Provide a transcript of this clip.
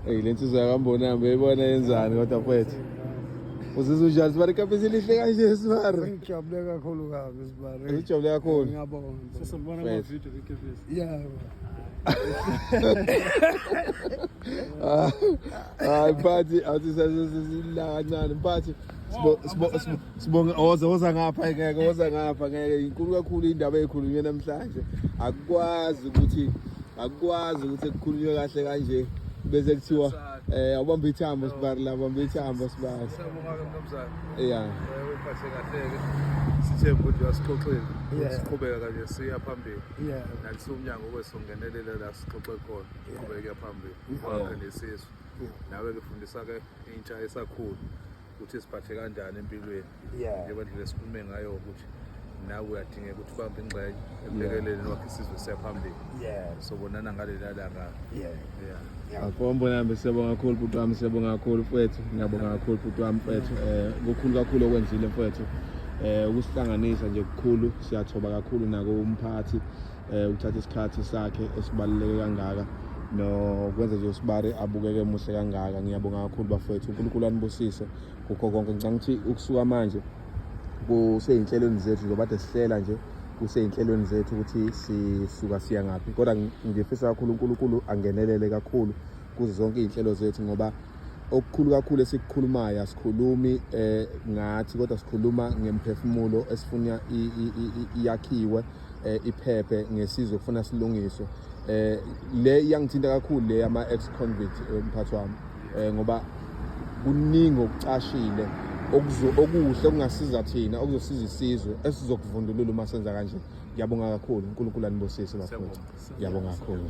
Eyi le nsizwa yakambonami beyibona yenzani kodwa mfethu. Uzizwa unjani sibari kapisi lihle kanje sibari. Ngijabule kakhulu kabi sibari. Ujabule kakhulu. Ngiyabonga. Sesibona ama Mfethu. video kekefisi. Yeah. Ah, Hayi mphathi awuthi sasesisilanga kancane mphathi. sibonge oze oza ngapha ngeke oza ngapha ngeke inkulu kakhulu indaba ekhulunywe namhlanje akukwazi ukuthi akukwazi ukuthi kukhulunywe kahle kanje bese kuthiwa eh awubamba ithambo sibari la bamba ithambo sibari yeah sithemba ukuthi uyasixoxela siqhubeka kanje siya phambili nakusumnyango kwesongenelela la sixoxe khona siqhubeke phambili kwakhe nesizwe nawe ke fundisa ke intsha esakhulu ukuthi siphathe kanjani empilweni njengoba ndlela esikhulume ngayo ukuthi nawe uyadingeka ukuthi ubambe ingxenye embhekeleni wakhe isizwe siyaphambili sobonana ngaleli alanga akombo nami siyabonga kakhulu bhuti wami siyabonga kakhulu mfwethu ngiyabonga kakhulu bhuti wami mfwethu um eh, kukhulu kakhulu okwenzile mfwethu um eh, ukusihlanganisa nje kukhulu siyathoba kakhulu nako umphathi eh ukuthatha isikhathi sakhe esibaluleke kangaka nokwenza nje usibari abukeke muhle kangaka ngiyabonga kakhulu bafowethu uNkulunkulu anibusise kukho konke ngicanga ukuthi ukusuka manje kuseyinhlelweni zethu zobade sihlela nje kuseyinhlelweni zethu ukuthi sisuka siya ngaphi kodwa ngifisa kakhulu uNkulunkulu angenelele kakhulu kuzo zonke izinhlelo zethu ngoba okukhulu kakhulu esikukhulumayo asikhulumi eh ngathi kodwa sikhuluma ngemphefumulo esifuna iyakhiwe eh, iphephe ngesizwe kufuna silungiswe eh le iyangithinta kakhulu le ama ex convict eh, mphathi wami eh ngoba kuningi okucashile okuzo okuhle okungasiza thina okuzosiza isizwe esizokuvundulula uma senza kanje ngiyabonga kakhulu uNkulunkulu anibusise bafowethu ngiyabonga kakhulu